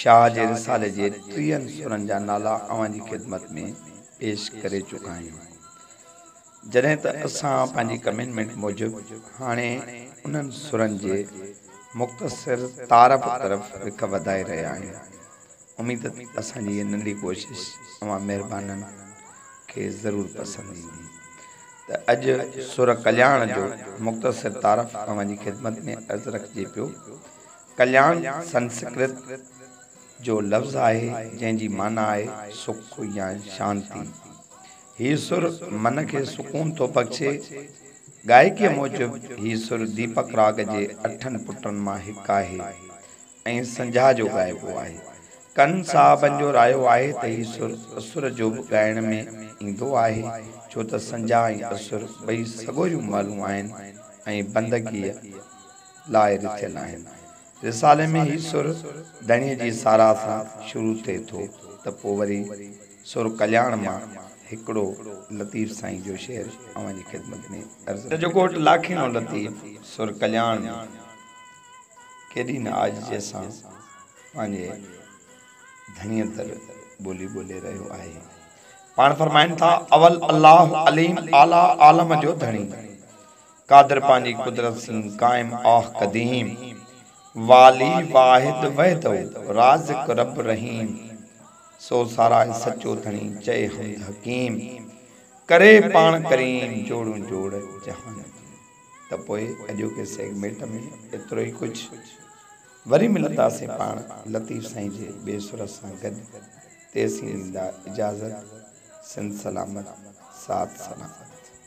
شاهه جي رسالي جي ٽيهن سورن جا نالا اوهان جي خدمت ۾ پيش ڪري چڪا آهيون. جڏهن ته اسان پنهنجي ڪمينمينٽ موجب هاڻي انهن سورن جي مختصر تعارف طرف رخ وڌائي رهيا آهيون. اميد ته اسان جي هيء ننڍي ڪوشش اوهان مهربانن کي ضرور پسند ايندي. ته اڄ سور ڪلياڻ جو مختصر تعارف اوهان جي خدمت ۾ عرض رکجي پيو. ڪليان سنسڪرت جو لفظ آهي جنهن جي معنيٰ آهي سک يا شانتي. هي سر من کي سڪون ٿو بخشي. گائڪيء موجب هي سر ديپڪ راڳ جي اٺن پٽن مان هڪ آهي ۽ سنجها جو ڳائبو آهي. ڪن صاحبن جو رايو آهي ته هي سر اسور جو به ڳائڻ ۾ ايندو آهي ڇو ته سنجها ۽ اسور ٻئي سڳوريون مهلون آهن ۽ بندگيء لاء رٿيل آهن. رسالي ۾ هي سر ڌڻيء جي ساراهه سان شروع ٿئي ٿو ته پوء وري سر ڪلياڻ مان هڪڙو لطيف سائين جو شعر اوهان جي خدمت ۾ عرض ڪيو. جو گهوٽ لاکيڻو لطيف سر ڪلياڻ ۾ ڪيڏي نه عاجزيء سان پنهنجي ڌڻيء در ٻولي ٻولي رهيو آهي. پاڻ فرمائن ٿا، اول الله عليم اعليٰ عالم جو ڌڻي. قادر پنهنجي قدرت سين قائم آه قديم والي واحد وحده رازق رب رحيم سو ساراهي سچو ڌڻي چئي حمد حڪيم ڪري پاڻ ڪريم جوڙون جوڙ جهان جي ته پوء اڄوڪي سيگمينٽ ۾ ايترو ئي ڪجهه وري ملنداسين پاڻ لطيف سائين جي ٻئي سر سان گڏ تيسين ڏيندا اجازت سنڌ سلامت ساٿ سلامت.